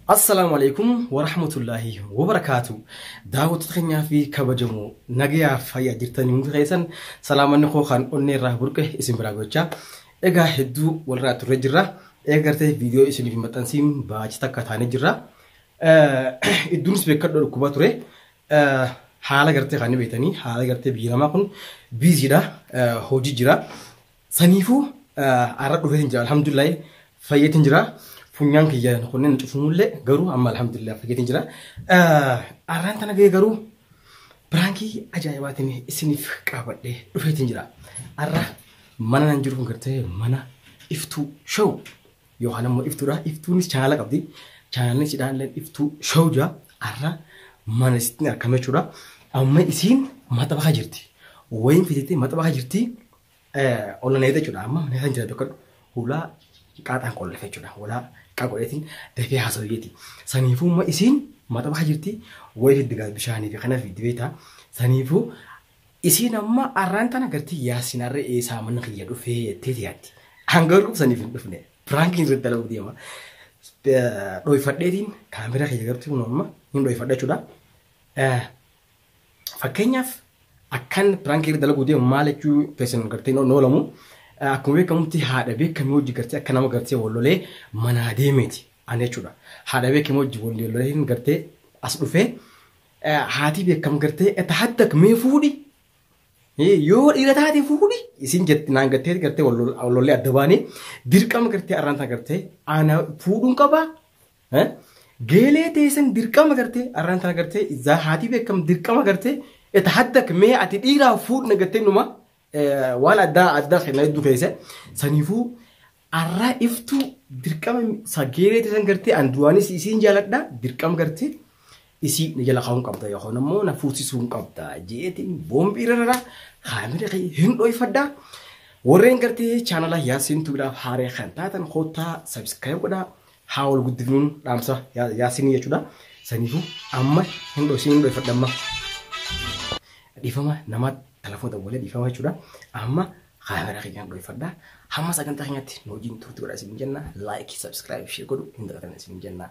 Assalaamu alaikum warahmatullaahi wabarakaatu. Daawwattoota keenyaa fi kabajamoo nagayaa fayyaa jirtanii hundi keessan salaamanni koo kan onnee irraa burqe isin biraa gochaa. Egaa hedduu walirraa turre jirra. Eega gartee viidiyoo isiniif hin maxxansiin baachi takka taanee jirra. Idduunis beekadhoo dhukkubaa ture. Haala gartee kan beektanii haala gartee biyyi namaa kun biiziidha hojii jira. Saniifuu har'a dhufee hin jira alhamdulillahi fayyeetiin jira. Funyaan kiyya kunneen cufumullee garuu amma alhamdulillahi fayyeetiin jira. Har'aan tana gahee garuu biraankii ajaa'ibaatiin isiniif qabadhee dhufeetiin jira. Har'a mana nan jiru kun gartee mana iftuu show yookaan ammoo iftuudha. Iftuunis chaanaala qabdi. Chaanaalni sidhaan illee iftuu show jira. Har'a mana isittiin argame jechuudha. Amma isiin maxabakaa jirti. Wayiin fiditee maxabakaa jirti. Ollaan eegdee jechuudha. Amma mana kan jira tokko hulaa qaaxaan qolleef jechuudha. Hulaa qaa godheetiin dafee haasawiyyeeti. Saniifuu amma isiin mataa baha jirti wayii diddigaa bishaanii fi kanaaf itti beektaa. Saniifuu isiin amma arraan tana gartii yaasin arra eesaa mana kiyya dhufee jettee tiyaatti. Hangaruu saniif hin dhufne. Piraankiin irratti dalaguu deema. Dhoyfadheetiin kaameraa kiyya gartuu amma hin dhoyfadha jechuudha. Fakkeenyaaf akkan piraank irra dalaguu deemu maal jechuu keessan gartee noo noolamu akkuma beekamutti haadha beekamii hojii gartee akka nama gartee wal lolee manaa deemeeti ani jechuudha. Haadha beekamii hojii wal lolee hin gartee as dhufee haatii beekam gartee eta haddak mee fuudhi yoo dhiira taate fuudhi isin jetti naan gartee gartee wal lollee adda baanii dirqama gartee arraan tana gartee ana fuudhuun qabaa Eh? Geelee teessan dirqama gartee arraan tana gartee izaa haatii beekam dirqama gartee eta haddak mee ati dhiiraa fuudhna gartee numa eh, waan addaa addaa kenna hedduu keessa saniifuu arraa iftuu dirqama sa geelee teessan gartee an duraanis isiin jaaladha dirqama gartee Dhisii na jala kaa'uun qabda yookaan ammoo na fuusisuun qabda jeetiin boombii rarara kaamira kee hin dhoyfadha. Warreen gartee chaanala Yaasiin Tubilaaf haaree kan taatan koottaa sabiskiraayib godhaa haa wal guddifnuun dhaamsa Yaasiin jechuudha. Saniifuu amma hin dhoysiin hin dhoyfadha amma. Dhiifama nama telefoota waliin dhiifama jechuudha. Amma kaamera keenyaan dhoyfadha. Hamma sagantaa keenyatti nu wajjin turtii godhaa isin jenna. Laayikii, sabiskiraayib, shee godhu hin dagatinaa isin jenna.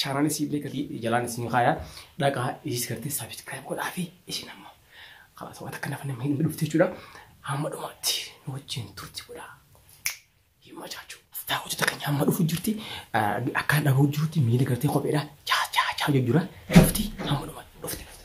Chaanaan isii illee gadi jalaan isin kaaya dhaqaa isis gartee saabskraayib godhaa fi isin amma karaa sabata akka nafa namni hin dhufte jechuudha. Hamma dhumaatti nu wajjin turti godhaa. Hin machaachuu. Daawwattoota keenya hamma dhufu jirti akka dhaga'u jirutti miila gartee kopheedha. Chaa chaa chaa jira. Dhufti hamma dhumaatti. Dhufti dhufti.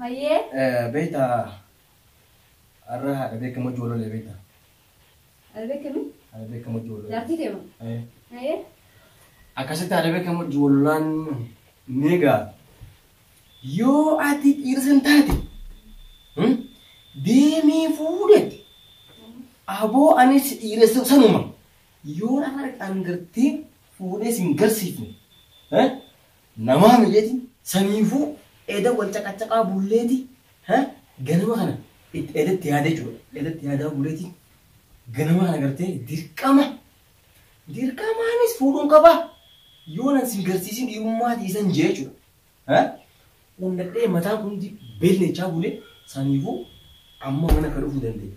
Hayyee. Beekta har'a haadha beekamoo ijoollee beekta. Haadha beekamoo? Haadha beekamoo ijoollee. Jaartii kee moo? Hayyee. Akkasitti haadha beekamoo ijoollaan ni egaa. Yoo ati dhiirsan taate deemee fuudhetti aboo anis dhiiressa sanuma yoo nama dhaqaan gartee fuudhee sin garsiifne Namaa mijeti saniifuu eda wal caqacaqaa bulleeti ha ganama kana itti eda itti yaada jechuudha eda itti yaadaa buleeti ganama kana gartee dirqama dirqamaanis fuudhuun qaba yoo nan sin garsiisin dhiirummaa dhiisan jee jechuudha ha undadhee mataan kundi beellechaa bule saniifuu amma mana akka dhufuu dandeenya.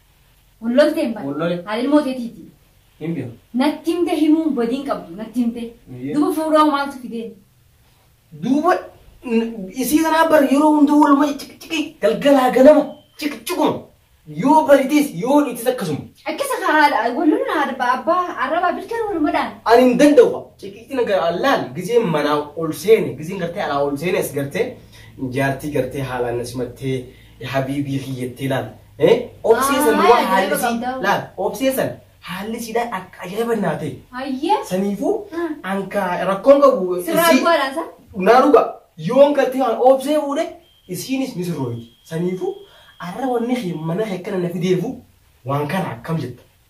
Wal loltee hin Wal lole. bane. Haadha ilmoo teetiiti. Hin beeku. Natti himte himuun badiin qabdu natti himte. Eeyyee. Duba fuudhaa maaltu fideen? Duuba n- isii kanaa bar yeroo hunda waluma ciqciqi galgalaa ganama ciqciquma yoo baritis yoo dhiitis akkasuma. Akkasa kaa haadha wal lolna haadha ba- abbaa arrabaa bilchaan walumadhaan. Ani hin danda'u ciqicina gara allaan gizeen manaa ol seene gizeen gartee alaa ol seene as gartee jaartii gartee haalaan na simattee habiibii kiyyattee laal Eh, obsee Ah, san waan ajaa'iba haalli isii qabda. laal obsee san haalli isiidhaan akka ajaa'iba naa ta'e. Hayyee. Saniifuu Hmm. anka rakkoon qabu Sirraa isii dhugaadhaan san. naa dhuga yoon galtee waan obsee fuudhe isiinis ni sirrooyti. Saniifuu arra wanni kee mana kee akkana na fideefu waan kana akkam jetta.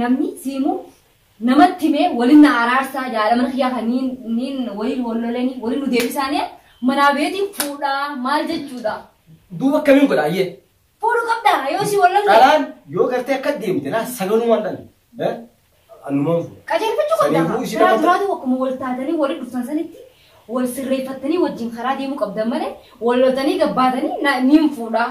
Namni siimu namatti himee waliin na araarsaa jaala mana kiyyaa kan niin niin waliin wal lolanii waliin nu deebisaanee manaa beetiin fuudhaa maal jechuudha. Duuba akkamiin godha ayyee. Fuudhu qabda yoo si wal lolle. Dhalaan yoo gartee akka deemte naa saganumaan dhan. Eh? Annumaan fuudha. Qajeelfachuu qabda Saniifuu kaa. isin Karaa amma- duraatu akkuma wal taatanii waliin dhuftan sanitti wal sirreeffattanii wajjin karaa deemuu qabdan malee wal loltanii gabbaatanii na- niin fuudhaa.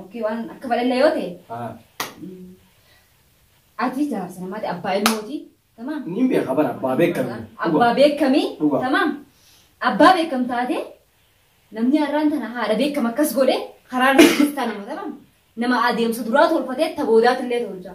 Okkii waan akka bal'inna yoo ta'e. Ati jaarsa namaati abbaa ilmooti. Tamaam. Niin beeka bara abbaa beekame. Abbaa beekamii. Dhugaa. Tamaam. Abbaa beekam taate namni har'aan tana haadha beekam akkas godhe karaa nama keessaa nama tamaam. Nama adeemsa duraa tolfatee ta boodaatillee tolcha.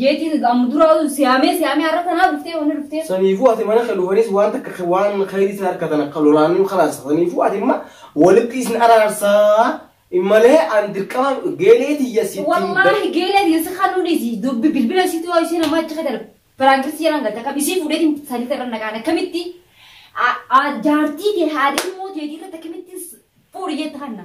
Jeetiin amma duraa'u siyaamee siyaamee har'a tanaa dhuftee wanni dhuftee. Saniifuu ati mana kan dhufanis waan takka waan khayrii isin harkatan akka lolaanuu kalaas saniifuu ati imma walitti isin araarsaa immalee an dirqama geelee tiyya sittiin Wallaahi geelee tiyya si kanuu dhiisi dubbi bilbila situ yoo isheen ammaa achi kadar piraankitti jedhan galte akkam isii fuudheetiin sadii irra nagaan akkamitti jaartii kee haadhii immoo teetii irratti akkamitti fuudhi jette kanna.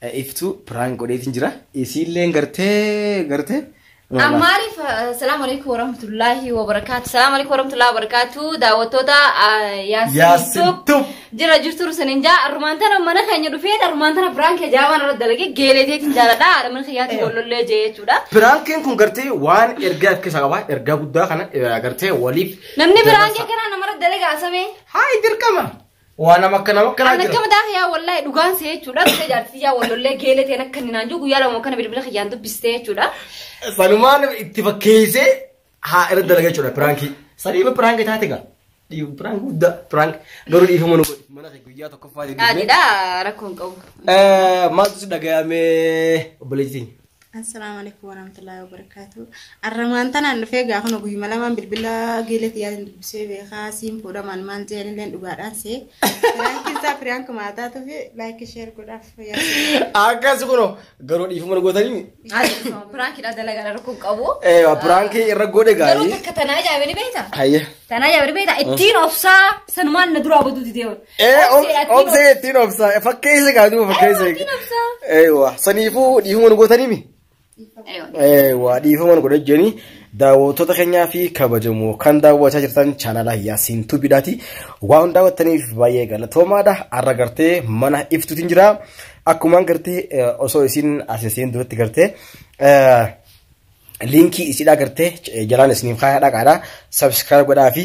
Iftuu prank godheetiin jira. Isiilleen gartee gartee. An maaliif salaamu alaikum warahmatullaahi wabarakaatu salaamu alaikum warahmatullaahi wabarakaatu daawwattoota Yaasin Yaasin Tube Tube. jira jirtu rusan hin jaa armaan tana mana keenya dhufee armaan tana biraan kee jaabaan irra dalage geelee teetiin jaaladha haadha mana kiyyaatti Eewa. wallollee jee jechuudha. Piraankiin kun gartee waan ergaa akka isaa qaba. Ergaa guddaa kana eh, gartee waliif. Namni biraan kee kanaa namarra dalagaa samee. Haay dirqama. Waa nama akka nama akkanaa Ani jira. akkama daaka yaa wallahi dhugaan see jechuudha. Dhufe jaartii yaa wallollee geelee ta'een akka inni naan jiru guyyaa lama kana bilbila kiyyaan dubbistee jechuudha. Sanumaan itti fakkeessee haa irra dalagaa jechuudha piraankii. Saniima piraanki taate gaa. Dhiibu piraanki guddaa piraanki garuu dhiifama nu godhi. Mana kee guyyaa tokkoffaa jedhee. Dhaadhidha rakkoon qabu. Maaltu si dhagayamee obboleettiin? Assalaamu alaikum warahmatullahi wabarakatuh. Arramaan tanaan dhufee gaa kun guyyuma lamaan bilbila geelee tiyyaatiin dubbisee beekaa siin fuudha maal maal jeen illee dhugaadhaan see. Laayikii isaa firiyaan kumaa taatuuf laayikii sheer godhaaf yaa. Akkas kuno garuu dhiifama nu gootanii. Piraankiidha dalagaa rakkoon qabu. Eh, Piraankii irra godhe Garuu gaarii. takka tanaa jaabanii beektaa? Hayya. Tanaa jaabanii beektaa? Ittiin obsaa sanumaan na duraa baduu didee oolu. Ee obsee ittiin obsaa fakkeessa gaa duuba fakkeessa. Eewa saniifuu dhiifama nu gootanimi. Eewa dhiifama nu godhan jedhanii daawwattoota keenyaa fi kabajamoo kan daawwachaa jirtan chaanala Yaasiin Tuubiidhaati. Waan daawwattaniif baay'ee galatoomaadha. Har'a gartee mana iftuutiin jira. Akkumaan gartee osoo isin asisiin duratti gartee liinkii isidhaa gartee jalaan isiniif kaayaa dhaqaadha. Sabskiraayib godhaa fi